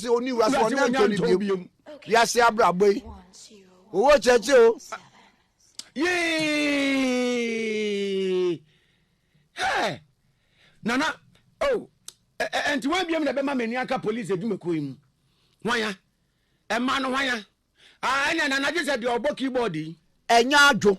sɛ ɔni wura sɛ ɔne antɔ ne biom wiase abrabɔ yi owó kyɛkyɛ o. yee hɛ nana o oh, ɛnti wɔn abiam na ɛbɛma mɛni aka polisi adwumakuo yi mu wɔn ya ɛma no wɔn ya ɛnna nana gye sɛ deɛ ɔbɔ keyboard yi. ɛnyɛ adwo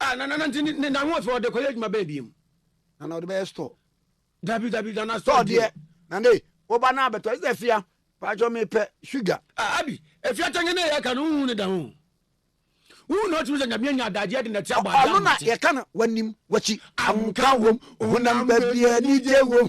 Ah, na na na nti ne na ho afei ɔde kɔyɛ adwuma bɛn biem. Na na ɔde bɛyɛ store. Dabi dabi na na store deɛ. Na ne woba na abɛtɔ ɛsɛ fia paatwɔ mi pɛ sugar. Ah abi efia kyɛn ne yɛ ka no huhu ne da ho. Huhu na ɔtumi sɛ nyamea nya adagyeɛ de na ti abɔ agya mmɔte. Ɔno na yɛ ka no wanim wakyi. Ahomka wom ohonam baabi anigye wom